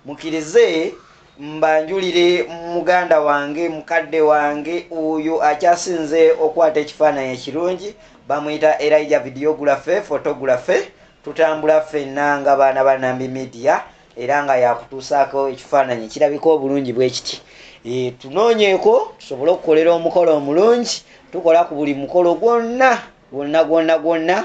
Mukirize mbanjulire muganda wange mukadde wange oyo akyasinze okwata ekifaananyi ekirungi bamuyita elija vidiyogulafe fotogulafe tutambula ffenna nga baana ba nambi midiya era nga yakutuusaako ekifaananyi ekirabika obulungi bwe kiti e, tunoonyeeko tusobole okukolera omukolo omulungi tukola ku buli mukolo gwonna gwonna gwonna gwonna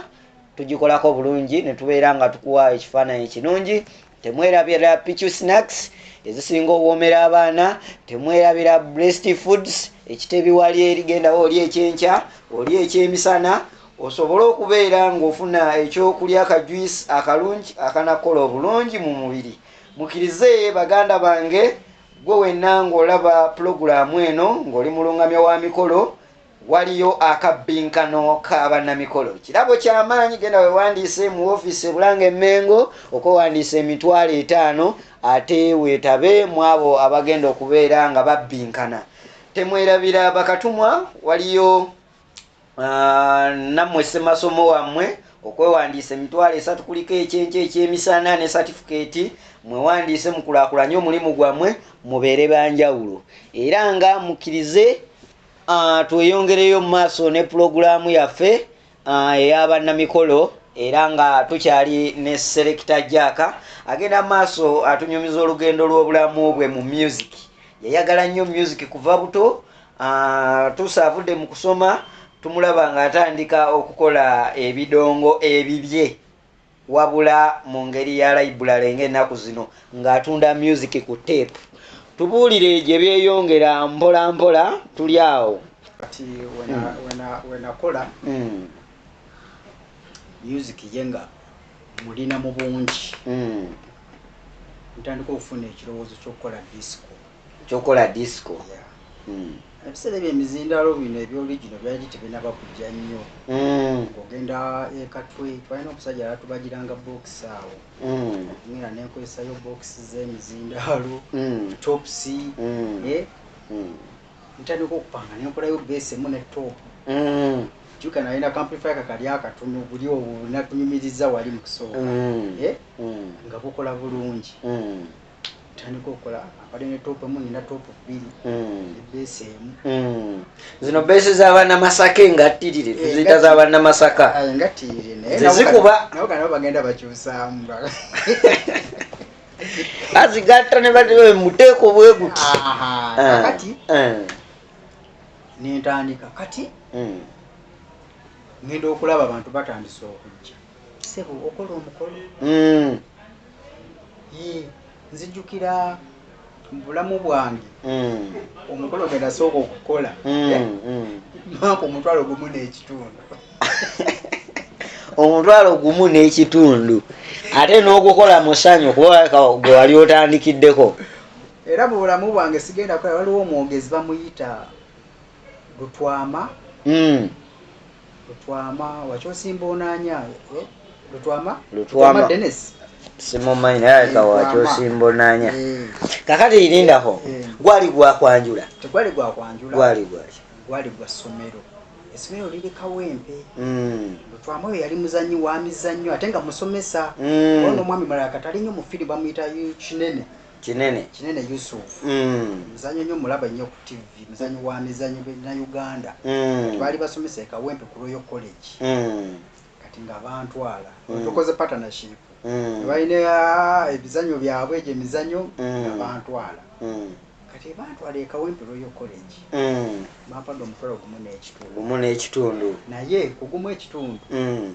tugikolako bulungi ne tubeera nga tukuwa ekifaananyi ekirungi temwerabira pichu snacks ezisinga owomera abaana temwerabira breast foods ekitebi wali erigendawo oli ekyenkya oli ekyemisana osobole okubeera ng'ofuna ekyokulya akajuisi akalungi akanakola obulungi mu mubiri mukirize baganda bange gwe wenna ng'olaba pulogulaamu eno ng'oli mulungamya wa mikolo Waliyo akabbinkano ka bannamikolo. Kirabo kya maanyi. Genda weewandiise mu woofiisi e Bulanga e Mmengo okwewandiisa emitwalo etaano ate weetabe mu abo abagenda okubeera nga babbinkana. Temwerabira bakatumwa. Waliyo nammwe ssemasomo wammwe okwewandiisa emitwalo esatu kuliko ekyenkya ekyemisana ne satifikeeti. Mwewandiise mukulaakulanye omulimu gwammwe mubeere ba njawulo era nga mukkirize. Ah, tweyongereyo mu maaso ne pulogulaamu yaffe ah, eyabannamikolo era nga tukyali ne selekita jaaka agenda mu maaso atunyumiza olugendo lw'obulamu bwe mu music yayagala nnyo music kuva buto ah, tuusa avudde mu kusoma tumulaba ng'atandika okukola ebidongo ebibye Wabula mu ngeri ya layibbulale ng'ennaku zino ng'atunda myuziki ku tteepu. Tubuulire gye byeyongera mpolampola tuli awo. Kati we nakola myuziki ye nga mulina mu bungi, ntandika okufuna ekirowoozo ky'okukola disiko. kyokola disco yeah. Ebiseera ebyo emizindaalo bino ebya original byali tebinaba kujja nnyo mm. ng'ogenda e Katwe twalina omusajja yatubagiranga bookisi awo mm. ngenda nenkozesayo bookisi z'emizindaalo mm. topsi mm. eh? mm. ntandika okupanga nenkolayo beesi emu ne top mm. juka nalina kamplifi kakali akatono guli owo natunyumiriza wali mu kusooka mm. eh? mm. nga bukola bulungi mm. ntandika okola abadde ne topu emu nina topu bbiri hmm. ne beesi emu hmm. zino beesi zabaana masaka engattirire eh, tuziyita zabaana masaka ah, engattirire nayezikuba nabo kanabo bagenda bakyusaamu azigatta ne bamuteeko bwe guti ah. kati eh. nentandika kati hmm. ngenda okulaba abantu batandise okujja sebo okola omukolo mm. ye nzijukira mubulamu bwange mm. omukolo gwenasooka okukola mm, mm. maaka omutwalo gumu n'ekitundu omutwalo gumu n'ekitundu ate n'ogukola mu ssanyu kuba gwe wali otandikiddeko era mu bulamu bwange sigenda kukola waliwo omwogezi bamuyita lutwama mm. lutwama wakyosimba onanya eh? lutwama lutwama denis simumanyi naye aleka wakyosimba onanya eh. kakati irindako eh. eh. gwali gwakwanjula tegwali gwakwanjula gwali gwali gwali gwa somero esomero liri kawempe mm. lutwama oyo yali muzanyi wamizannyo ate nga musomesa mm. ono omwami mulala katalinyo mufiri bamuyita kinene kinene kinene yusuf mm. muzanyo nyo mulaba nyo ku tv muzanyo wa mizanyo na uganda mm. baali basomesa ekawempe ku royal college mm. kati nga bantwala mm. tukoze partnership mm. balina ah, ebizanyo byabwe egyo emizanyo mm. nga bantwala mm. kati bantwala ekawempe royal college mm. bampada omutwalo gumu n'ekitundu naye kugumu ekitundu mm.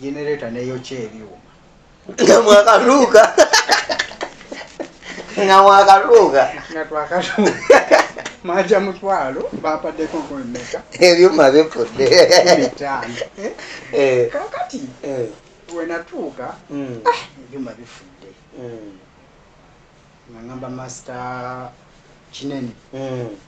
genereta neyokya ebyuma nga mwakaluuka nga mwakaluuka nga twakaluuka maja mutwalo bapaddeko nkumi meka ebyuma bifudde mitano eh? eh. kakati eh. wenatuuka hmm. ah, ebyuma bifudde hmm. nga ngamba master kinene hmm.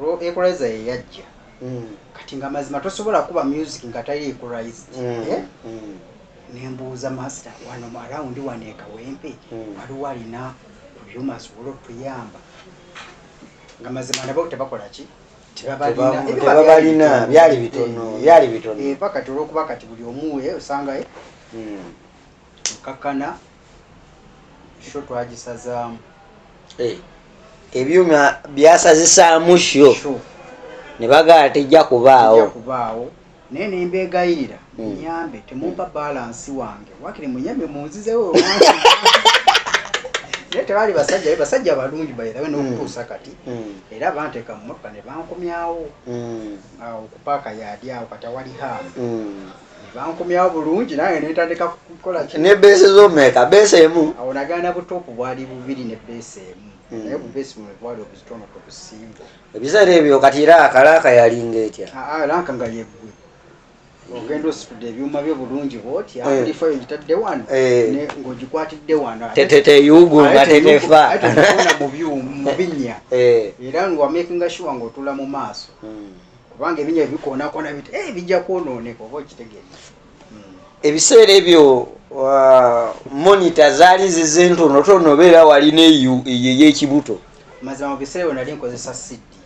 Olwo equalizer ye yajja. Mm. Kati nga mazima tosobola kuba music nga tali equalized. Mm. Eh? Mm. Nembuuza master wano mu around wano ekawempe mm. waliwo alina ku byuma asobola okutuyamba nga mazima nabo tebakola ki tebabalina byali bitono eh, byali bitono eh, paka tolwokuba kati buli omuwe osangaye mm. kakana sho twagisazaamu eh, ebyuma byasazisaamu sho ne bagala tejja kubaawo kubaawo naye nembeegayirira hmm. munyambe temumpa balansi wange wakiri munyambe munzizewo naye tebaali basajja basajja balungi bairawe hmm. nokutuusa kati hmm. era banteeka mu motoka ne bankomyawo okupaaka yaadi awo kati awali haamu nebankomyawo bulungi nange netandika kukola ne base zomeka base emu awo nagana butopu bwali bubiri ne base emu hmm. naye bubase bumwe bwali obuzitono ku busimbo ebiseera ebyo kati era akalaaka yalinga etya lanka nga yeggwe ogenda ositudde ebyuma byo bulungi bwoti eh. abulifa yo gitadde wano eh. ng'ogikwatidde wano teteyugunga tetefa mu byuma mu binnya eh. era ngawamakinga shuwa ng'otula mu maaso hmm. kubanga ebinya ebikoonakona bit eh, bijja kwonooneka oba okitegeeza hmm. ebiseera ebyo uh, monita zaali zize ntonotono obeera walina eyo eyekibuto mazima mu biseera ebyo nali nkozesa siddi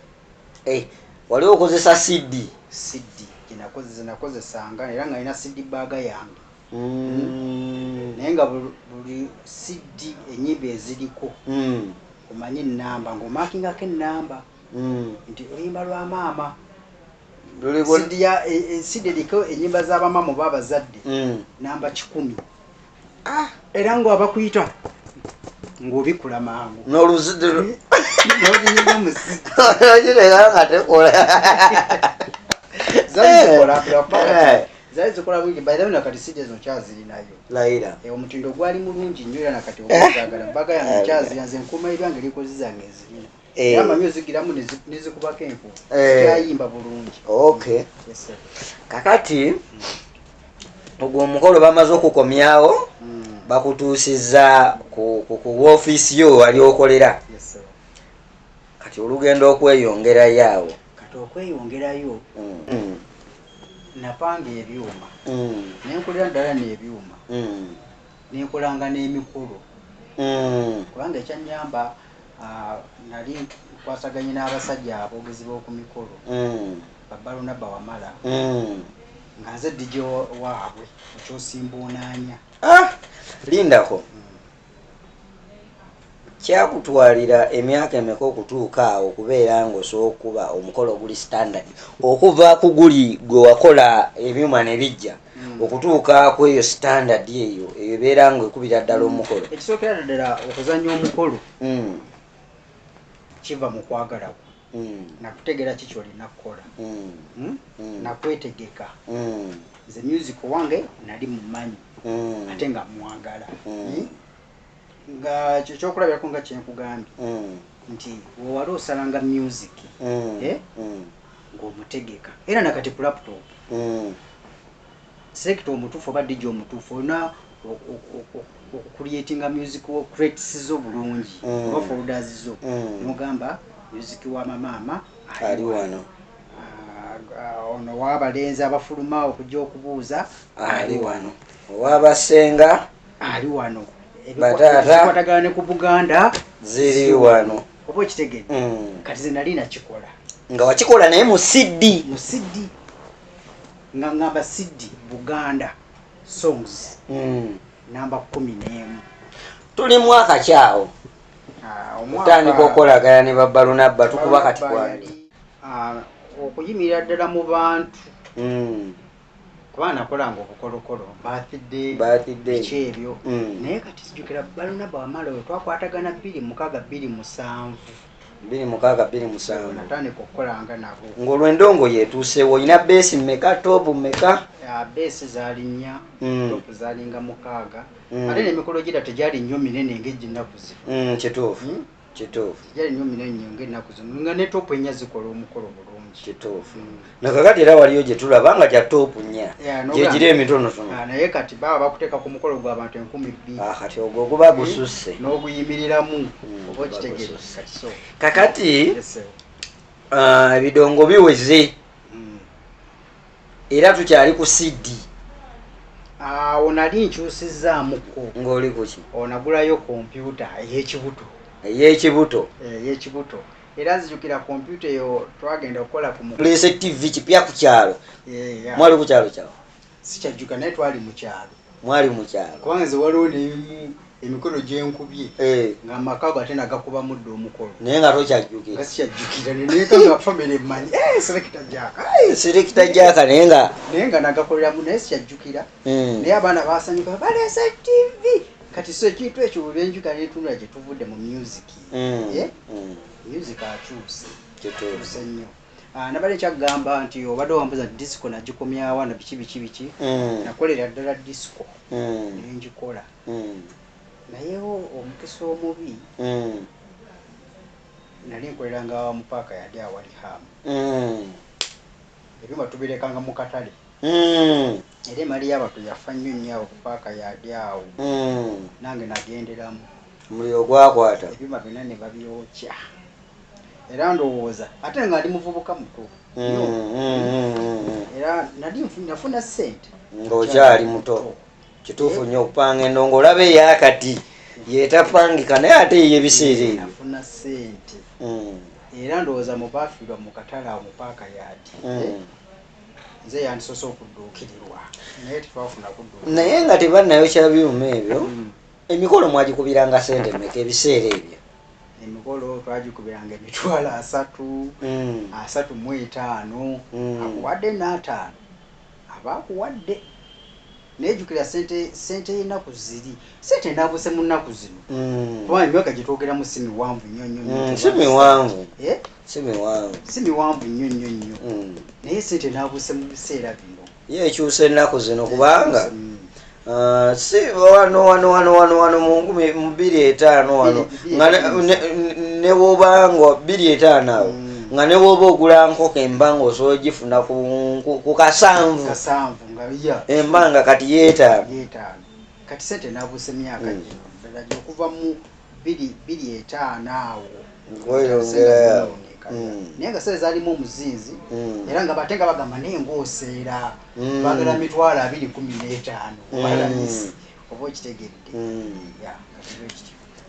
eh, wali okozesa siddi siddi gyenakozesanga era nga nina siddi baaga yange hmm. naye nga buli siddi enyimba eziriko hmm. omanyi enamba ngaomakingako enamba mm. nti oluyimba lwa maama sidiya e, e, sidiriko enyimba za bamaama oba abazadde mm. namba kikumi ah. era nga abakuyita ng'obikula mangu n'oluzidde n'oluyimba muziatekola zazikola zali zikola bulungi by the way nakati sijja zino kyazirinayo layira e, omutindo gwali mulungi nnyo era nakati ogwagala mbaga yange kyazira nze nkuuma ebyange likozi zange ezirina Eh. Eh. kakati ogwo omukolo bamaze okukomyawo hmm. bakutuusiza ku wofiisi yo wali okolera kati olugenda okweyongerayo awo kati okweyongerayo hmm. Hmm. napanga ebyuma nenkolera ddala nebyuma nenkolanga n'emikolo kubanga ekyanyamba Ah, nali nkwasaganye n'abasajja aboogezi b'oku mikolo mm. babalunabba wamala mm. nga nze dj waabwe ekyosimbuunaanya ah, lindako mm. kyakutwalira emyaka emeka okutuuka awo okubeera ngaosookuba omukolo oguli standard okuva ku guli gwe wakola ebyuma ne bijja hmm. okutuuka ku eyo standard eyo eyo ebeera nga ekubira ddala hmm. omukolo ekisookera ddala okuzanya omukolo hmm. kiva mu kwagala kwo nakutegeera ki kyolina kukola nakwetegeka nze music owange nali mumanyi ate nga mwagala nga kyekyokulabirako nga kyenkugambye mm. nti wewali osalanga music mm. eh? mm. ngaomutegeka era nakati ku laptop mm. sekita omutuufu oba dija omutuufu olina okucreatinga music wo crates zo bulungi mm. oba folders zo mm. nomugamba music wa mamaama ali wano Uh, ono wabalenzi abafuluma okujja okubuuza ali wano owabasenga ali wano ebikwatagana ne ku buganda ziri wano oba okitegede mm. kati ze nali nakikola nga wakikola naye mu cd mu cd nga ngamba cd buganda songs mm. namba kumi n'emu tuli mwaka kyawo ah, otandika okolagana ne babalunabba tukuba kati kwani ah, okuyimirira ddala mu bantu mm. kuba nakolanga obukolokolo bathidebiki ebyo mm. naye kati sijukira balunaba wamala oyo twakwatagana bbiri mukaga bbiri musanvu bbiri mukaga bbiri musanvu natandika okukolanga nabo ngaolwendongo yetuusewo olina beesi meka tobu meka beesi zali nnya mm. topu zalinga mukaaga mm. ate nemikolo gira tegyali nnyo minene ngaeginaku zino kituufu kituufu kijali nyo minanyi nyonga ennaku zino nga ne topu ennya zikola omukolo bulungi kituufu mm. nakakati era waliyo gye tulaba nga gya topu nnya gyegiri emitonotono ah, naye kati baba bakuteeka ku mukolo gwa bantu enkumi bbiri ah, kati ogwo oguba eh, gususse n'oguyimiriramu mm, oba okitegere kakati ah, ebidongo biweze era tukyali ku cd awo nali nkyusizzaamukko ng'oli kuki onagulayo kompyuta ey'ekibuto ey'ekibuto eh, ey'ekibuto era nzijukira kompyuta eyo twagenda okukola ku muleese tv kipya ku kyalo eh, mwali ku kyalo kyawo sikyajjuka naye twali mu kyalo mwali mukyalo kubanga nze waliwo nebimu emikolo gyenkubye eh. nga amakago ate nagakuba mudda omukolo naye nga tokyajjukira sikyajjukira nekaga famire mmanyi eh, selekita jaka selekita jaka naye nga naye nga nagakoleramu naye sikyajjukira hmm. naye abaana basanyuka baleesa tv kati so ekintu ekyo bwebenjuka netunula gyetuvudde mu music hmm. eh? hmm. music akyuse kyetuse nnyo Ah, nabadde nkyagamba nti obadde wambuza disco nagikomyawa na biki biki biki mm. nakolera ddala disco mm. nengikola mm. naye omukisa omubi nali nkolera nga mupaaka yali awali hamu ebyuma tubirekanga mu katale era emali yabatu yafa nnyo nnyo awo kupaaka yali awo nange nagenderamu muliro gwakwata ebyuma byonna ne babyokya era ndowooza ate nga ndi muvubuka muto nyo era nali nafuna sente ng'okyali muto kituufu nyo okupanga endongo olaba eyakati yetapangika naye ate eyo ebiseera ebyo nafuna sente mm. era ndowooza mubafiirwa mu katale awo mupaaka yadi mm. nze yandisoose okudduukirirwa naye tetwafuna kudduukirwa naye nga tebannayokya byuma ebyo mm. emikolo mwagikubiranga sente meka ebiseera ebyo emikolo twagikubiranga emitwalo asatu mm. asatu mu etaano mm. akuwadde n'ataano aba akuwadde nejukira sente sente y'ennaku ziri sente enaabuse mu nnaku zino mm. kubanga emyaka gye twogeramu si miwanvu nnyo nnyo mm, si miwanvu eh? si miwanvu si miwanvu nnyo nnyo nnyo mm. naye sente enaabuse mu biseera bino ye ekyusa ennaku zino kubanga mm. uh, si wano wano wano wano wano mu nkumi bbiri etaano wano nga ne wobanga bbiri etaano awo mm. nga ne woba ogula nkoko embanga osobola ogifuna ku kasanvu embanga kati yeetaano kati sente nabuusa emyaka mm. gino ddala gyokuva mu biri biri etaano awo naye nga sente zalimu omuzinzi mm. era nga bate nga bagamba naye ngaoseera mm. bagala mitwalo abiri kumi n'etaano obalamisi mm. oba okitegedde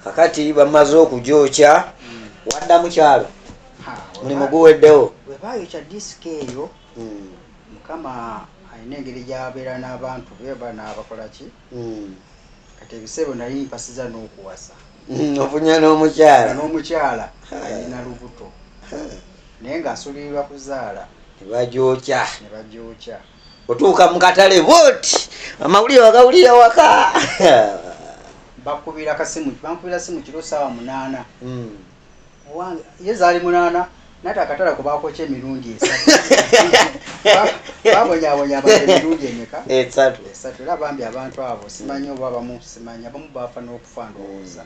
kakati bamaze okugyokya wadda mukyalo mulimu guweddewo webayokya disika eyo mukama alina engeri gyabeera n'abantu be bana bakolaki kati ebiseebo nali mpasiza n'okuwasa mm, ofunya n'omukyala n'omukyala alina lubuto naye ng'asulirirwa kuzaala nebagyokya nebagyokya otuuka mu katale bwoti amawulire wagawulira waka bakubira kasimu bankubira simu kiro saawa munaana mm. owange ye zaali munaana nate akatala ku baakokya emirundi esababonyabonya abantu emirundi emeka esatu esatu era bambi abantu abo simanyi oba abamu simanyi abamu baafa n'okufa ndowooza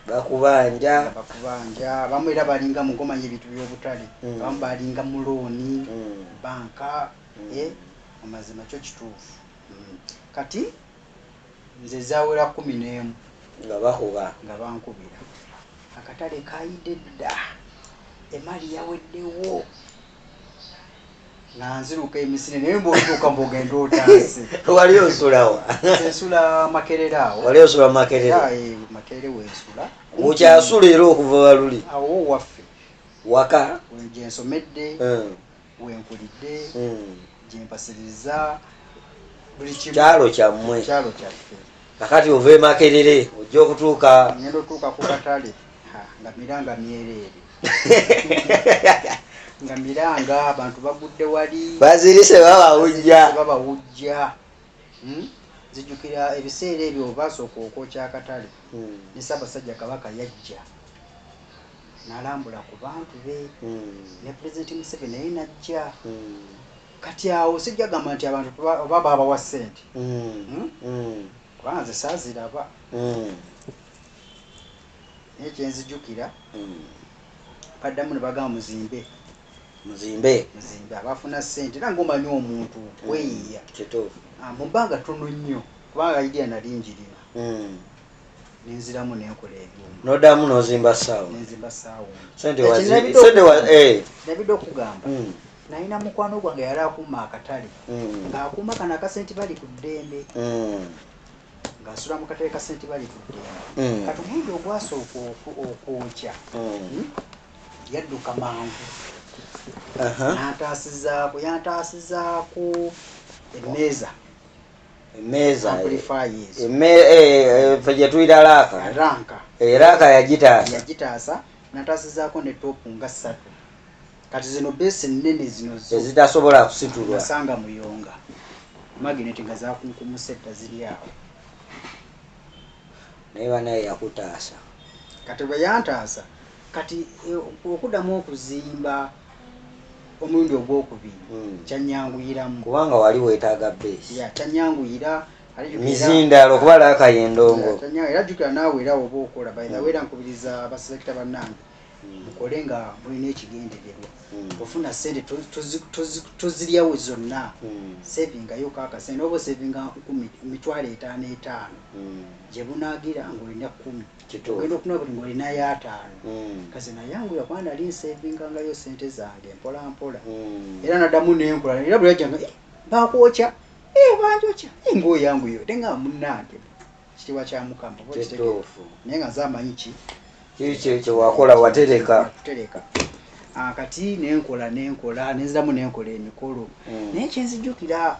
bakubanja bakubanja abamu era balinga mugomanya ebintu by'obutale mm. abamu balinga mulooni mm. banka mm. eh, amazima kyo kituufu kati Nze zawera kkumi n'emu nga bakuba. Nga bankubira. Akatale kaayidde dda, emali yaweddewo. Nga nziruka emisine naye mbwotuuka mbogenda otaase. Wali osula wa? Nsula Makerere awo. Wali osula Makerere? Eh, Makerere wensula. Okyasula era okuva baluli? Awo waffe. Waka? Gyensomedde. Eh. wenkulidde hmm. gyempasiriza buli kyalo kyammwe kyalo kyaffe kakati ova emakerere ojja okutuuka ngenda otuuka ku katale nga miranga myereere nga miranga abantu bagudde wali bazirise babawujja babawujja hmm? zijukira ebiseera ebyo obaasooka okwokya akatale hmm. ne ssaabasajja kabaka yajja nalambula ku bantu be hmm. ne pulezidenti museveni naye najja hmm. kati awo sijja gamba nti abantu oba baabawa ssente hmm. kubanga nze saaziraba naye kyenzijukira baddamu ne bagamba muzimbe muzimbe muzimbe abafuna ssente era ngaomanyi omuntu kweyiya ah, mu bbanga tono nnyo kubanga idea nali njirina nenziramu nenkola ebyuma nodamu nozimba saawa nenzimba saawa sente sente wa eh nabidde okugamba mm. nalina mukwano gwange yali akuuma akatale mm. ng'akuuma kano akasenti bali ku ddembe mm. ng'asula mu katale kasenti bali ku ddembe mm. kati omulundi ogwasooka okwokya mm. hmm? yadduka mangu uh -huh. yantaasizaako yantaasizaako emmeeza emmeeza amplifiers emme eh, ffe gye tuyita laaka ranka eraaka yagitaasa yagitaasa nataasizaako ne topu nga ssatu kati zino beesi ennene zino zo ezitasobola kusitulwa nasanga muyonga magineti nga zakunkumuse edda ziri awo naye banaye yakutaasa kati bwe yantaasa kati eh, okuddamu okuzimba omulundi ogwokubiri hmm. kyanyanguyiramu kubanga wali wetaaga base kyanyanguyira mizindalo okuba laakayo endongo era jjukira naawe era oba okola bayina hmm. wera nkubiriza abaselekita bannange hmm. mukole nga mulina ekigendererwa ofuna sente toziryawo zonna sevingayo kakase noba osevinga mitwalo etaano etaano gye bunagira ngaolina kumi ogenda okuna buli nga olina yo ataano mm. kazi nayanguya kuba nali nsevingangayo sente zange mpola mpola mm. era nadamu nenkola era bweyajanga eh, bakwokya eh, banjokya eh, ngaoyanguyo te nga munange kitiibwa kya mukama naye nga nze amanyi ki kikyewakola watereka kutereka ah, kati nenkola nenkola nenziramu nenkola emikolo mm. naye kyenzijukira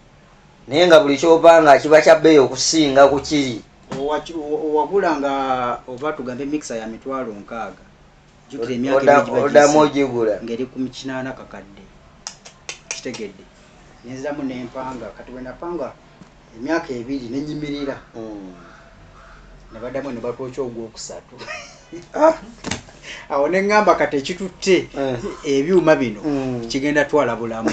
naye nga buli kyopanga kiba kyabbeeyi okusinga ku kiri owagula nga oba tugambe mikisa ya mitwalo nkaaga jukira emyakaodamu ogigula ngeri ku kinaana kakadde kitegedde nenziramu nempanga kati wenapanga emyaka ebiri nenyimirira hmm. ne baddamu ne batwokya ogwokusatu ah! awo ne ŋŋamba kati ekitutte eh. ebyuma bino hmm. kigenda twala bulamu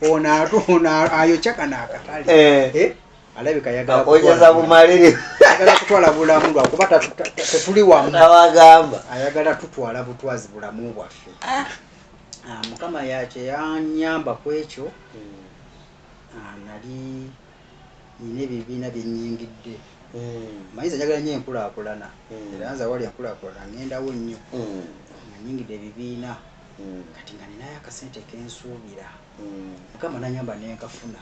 ono ayokya kano akatale eh. Eh? alabika yagalaoyeza bumaliri ayagala kutwala bulamu lwakuba tetuli wamu nawagamba ayagala tutwala butwazi bulamu bwaffe ah. Ah, mukama yakyeyanyamba ku ekyo hmm. ah, nali nina ebyo ebibiina byenyingidde hmm. mayiza njagala nyo enkulakulana hmm. era nze awali enkulakulana ngendawo nnyo hmm. nga nyingidde ebibiina kati nga ninayo akasente kensuubira mukama nanyamba nenkafuna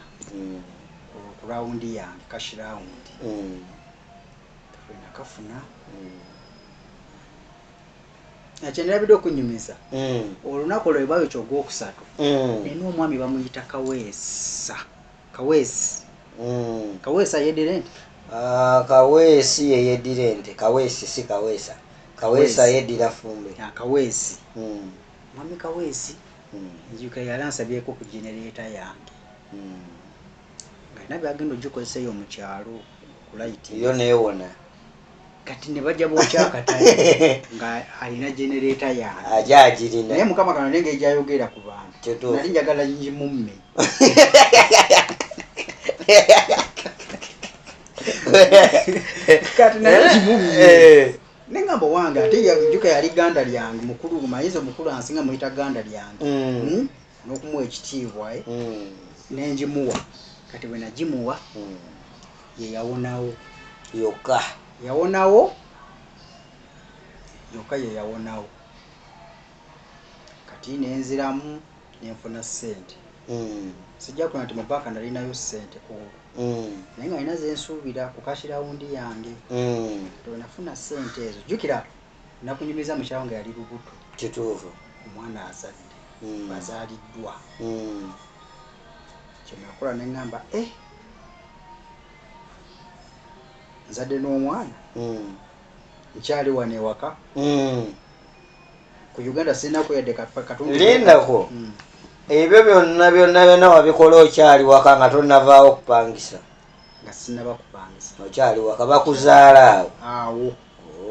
ku rawundi yange kashi rawundi nakafuna ekyenderabidde okunyumiza olunaku lwebabekyo ogwokusatu nina omwami bamuyita kaweesa Kaweesi mm. Kaweesa yedira ente uh, Kaweesi yeyedira ente Kaweesi si Kaweesa Kaweesa yedira fumbe ya, Kaweesi mm. Mami Kaweesi mm. njuka yalansabyeko ku genereta yange mm. nga nabyo agenda ogikozesa eyo mu kyalo kulayiti yo newona kati ne bajja bookya akatale nga alina genereeta yange aja agirina naye mukama kano nenge egyayogera ku bantu Kituufu. nali njagala ngimumme kati naye ngimumme Eh, nengamba owange ate yajuka yali ganda lyange mukulu mayinza omukulu ansinga muyita ganda lyange mm. Hmm? n'okumuwa ekitiibwa eh, mm. ne ngimuwa kati bwe nagimuwa mm. ye yawonawo yokka yawonawo yokka ye yawonawo kati nenziramu nenfuna ssente mm. sijja kuna nti mubaaka nalinayo ssente kuulu mm. naye nga nina zensuubira ku kashirawundi yange mm. nafuna ssente ezo jjukira nakunyumiza mukyawo nga yali lubuto kituufu omwana azadde mm. bazaliddwa mm. kyenakola neŋamba e eh, nzadde n'omwana mm. nkyali wano ewaka mm. ku uganda sinako yadde katundulindako mm. ebyo byonna byonna byonna wabikola okyali waka nga tonavaawo okupangisa nga sinaba kupangisa okyali waka bakuzaala awo awo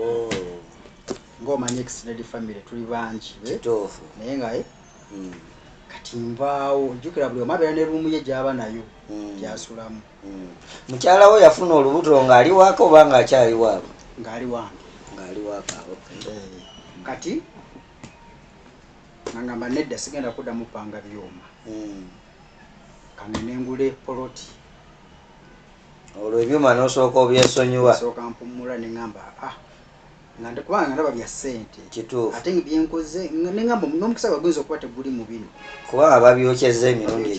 oh. ngaomanyi extended family tuli bangi eh? naye nga eh? hmm. kati mbaawo jukira buli omabeera ne ruumu ye gyaba nayo hmm. gyasulamu hmm. mukyala wo yafuna olubuto ngaali waaka oba nga akyali waabwe ngaali wange ngaali waaka eh. kati nangamba nedda sigenda kuddamu panga byuma kano nengula epoloti olwo ebyuma nosooka obyesonyiwa sooka mpumula nengamba ah nga ndikubanga nga ndaba bya ssente kituufu ate nga byenkoze nengamba n'omukisa gwa guyinza okuba teguli mu bino kuba ababyokyeza emirundi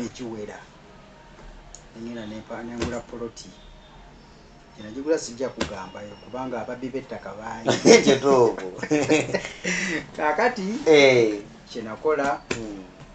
egiwera nengenda nengula poloti enagigula sijja kugambayo kubanga ababbi b'ettaka bangi kituufu kakati eh. kyenakola hmm.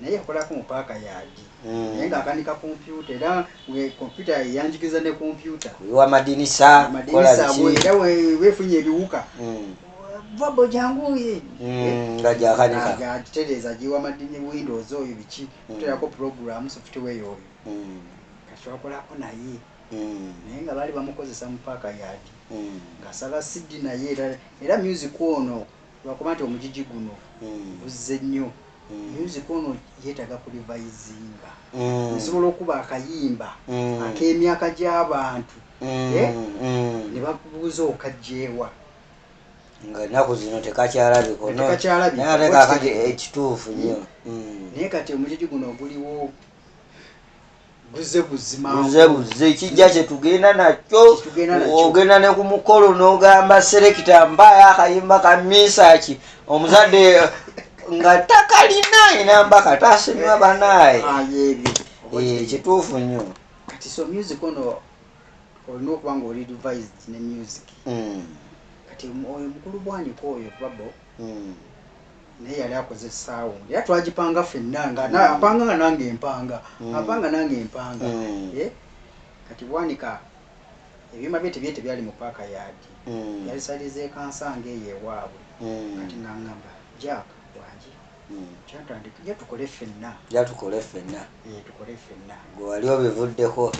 naye yakolako mu paaka yaadi mm. naye ng'akanika kompyuta era kompyuta yanjigiriza ne kompyuta wamadinisa era wefunye ebiwuka mm. vabo janguye mm, nga gyakanikagitereeza giwa madini windows oyo biki kuterako programu software oyo katwakolako naye naye nga baali bamukozesa mu paaka yaadi ngasala sidi naye era music ono lwakuba nti omujiji guno mm. guzze nnyo mm. music ono yetaga ku revisiinga mm. nsobola okuba akayimba mm. ak'emyaka gy'abantu mm. eh? mm. ne bakubuuza okajjeewa nga naku zino tekakyalabiko ekituufu nyo mm. mm. naye kati omujiji guno oguliwo buze buze kijja kyetugenda nakyo ogenda ne ku mukolo n'ogamba serekita mbaayo akayimba ka misaaki omuzadde nga takalina enamba kataasimiwa banaaye ah, eh, kituufu nnyo kati so music ono olina okuba nga oli devised ne music hmm. kati oyo mukulu bwanika oyo babo hmm. naye yali akoze esaawa ondi era twagipanga fenna nga mm. apanga nga nange empanga mm. apanga nange empanga mm. eh? kati bwanika ebyuma bye tebye tebyali mu paaka yaadi mm. yali saliza ekansanga eyo ewaabwe mm. kati nangamba jack wangi mm. kyatandika ja tukole fenna ja tukole fenna eh, tukole fenna gwe wali obivuddeko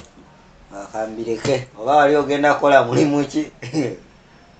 akambireke oba wali ogenda kukola mulimu ki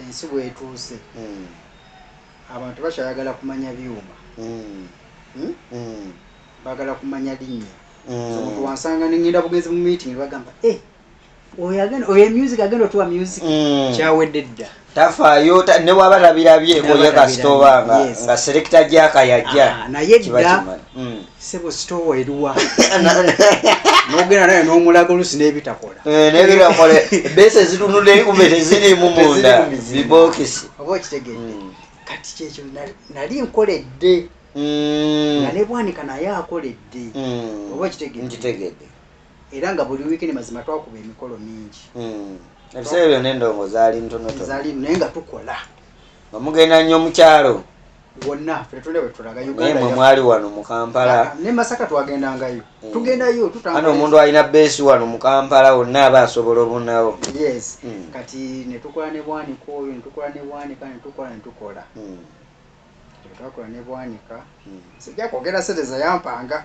ensi bwetuuse mm. abantu bakyayagala kumanya byuma mm. hmm? mm. bagala kumanya linnya mm. omuntu wansanga nengenda bugenzi mu meeting bagamba eh, oyo music agenda otuwa music mm. kyawedde dda tafaayo newaba labirabye oye kasita obanga nga serekita gyakayajja ah, naye dda mm. sebo sitoowa eruwa nogenda naye nomulaga olusi nebitakola eh, nebitakola ebesa ezitunula ekume tezirimu munda bibokisi oba okitegedde hmm. kati kyekyo nali nkoledde hmm. nga nebwanika naye akoledde hmm. oba okitegedde era nga buli wiikini mazima twakuba emikolo mingi ebiseera byona endongo zaali ntonotono naye nga tukola omugenda nnyo mukyalo wonna ffe tetulina wetulaga naye mwe mwali wano mu kampala ah, ne masaka twagendangayo eh. tugendayo tutano omuntu alina beesi wano mu kampala wonna aba asobola obunawo yes hmm. kati netukola ne bwanika oyo netukola ne bwanika netukola netukola hmm. twakola ne bwanika hmm. sijja kwogera sente zeyampanga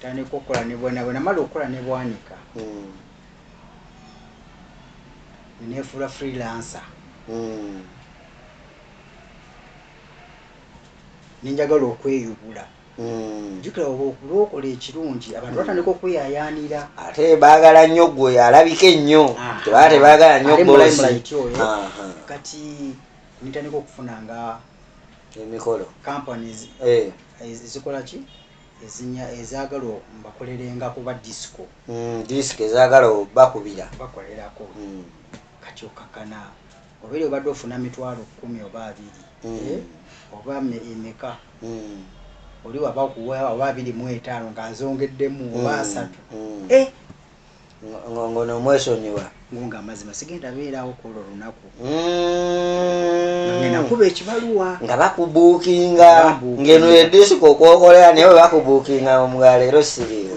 tandika okukola ne bwana bwe namala okukola ne bwanika hmm. nenefuula freelancer hmm. nenjagala okweyubula hmm. jukira oba okulwokola ekirungi abantu batandika okweyayaanira ate baagala nnyo gwe alabika ennyo tebaa tebaagala nnyo kati nitandika okufuna nga emikolo companies eh. eh, zikola ki ezinya ezagala mbakolerenga kuba disco mm, disco ezagala bakubira bakolerako mm. kati okakana obere obadde ofuna mitwalo kumi oba abiri mm. eh? oba emeka mm. oli waba okuwa oba abiri mu etaano nga nzongeddemu oba mm. asatu mm. eh? ngono omwesonyiwa nga amazima sigenda beerawo kwolwo lunaku mm. nakuba ekibaluwa nga bakubuukinga ngeno edisiko kwokolera naye webakubuukinga omugaleero siriyo